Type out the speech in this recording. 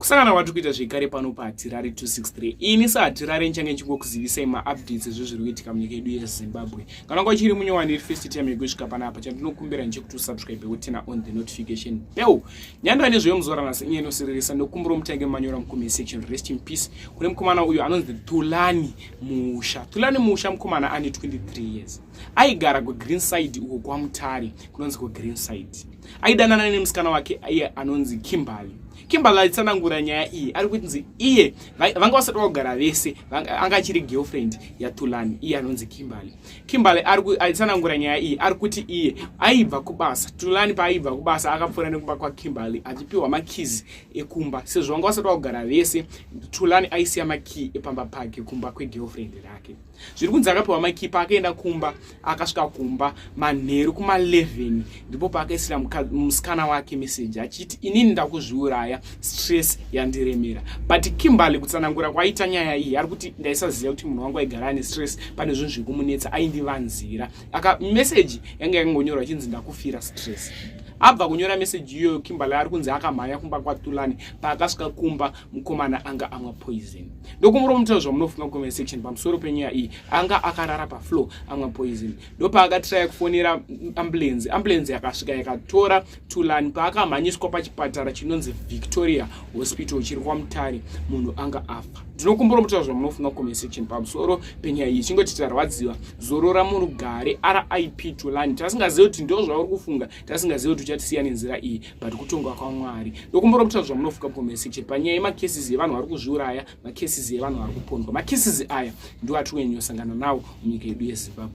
kusangana kwati kuita zvekare pano pahatirare 263 ini sahatirare ndichange ndichingokuzivisai maupdates ezvezviri kuitika munyika yedu yezimbabwe kana kwa chiri munyowani iri first time yekusvika panapa chandinokumbira ndechekuti usubscribe wotena on the notification bell nyandira nezveyo muzoranasi inye inosiririsa nokumbiro mutange manyora mucomment section rest in peace kune mukomana uyu anonzi tulani musha tulani musha mukomana ane 23 years aigara kugreen side uko kwamutari kunonzi kugreen side aidanana nemusikana wake iye anonzi kimberly kimberly aitsanangura nyaya iyi ari kutinzi iye vanga vasati vagara vese anga achiri girlfriend yatulani iye anonzi kimberly kimberly aitsanangura nyaya iyi ari kuti iye aibva kubasa tulani paaibva kubasa akapfuura nekumba kwakimberly achipiwa makizi ekumba sezvo vanga vasati vagara vese tulani aisiya makiyi epamba pake kumba kwegirlfriend rake zviri kunzi akapiwa makipa akaenda kumba akasvika kumba manheru kuma 11 ndipo paakaisira musikana wake meseji achiti inini ndakuzviuraya stress yandiremera but kimberly kutsanangura kwaita nyaya iyi ari kuti ndaisaziva kuti munhu wangu aigara ane stress pane zvinhu zviri kumunetsa aindivanzira aka meseji yanga yakangonyorwa chinzi ndakufira stress abva kunyora meseji iyoyo kimberly ari kunzi akamhanya kumba kwatulani paakasvika kumba mukomana anga amwa poison ndokumuro mutaura zvamunofunga comment section pamusoro penyaya iyi anga akarara pafloor amwa poison ndopaakatiraya kufonera ambulance ambulance yakasvika yakatora tulani paakamhanyiswa pachipatara chinonzi victoria hospital chiri kwamutare munhu anga afa ndinokumbura mutaura zvamunofunga comment section pamusoro penyaya iyi chingoti tarwadziwa zorora murugare rip tulani tasingazivi kuti ndo zvauri kufunga tasingazive kuti uchatisiya nenzira iyi but kutonga kwamwari ndokumbora kutaura zvamunofuka bkomesiche panyaya yemakesis evanhu vari kuzviuraya makesis evanhu vari kupondwa makesis aya ndiwo atiri kunyanyosangana nawo munyika yedu yezimbabwe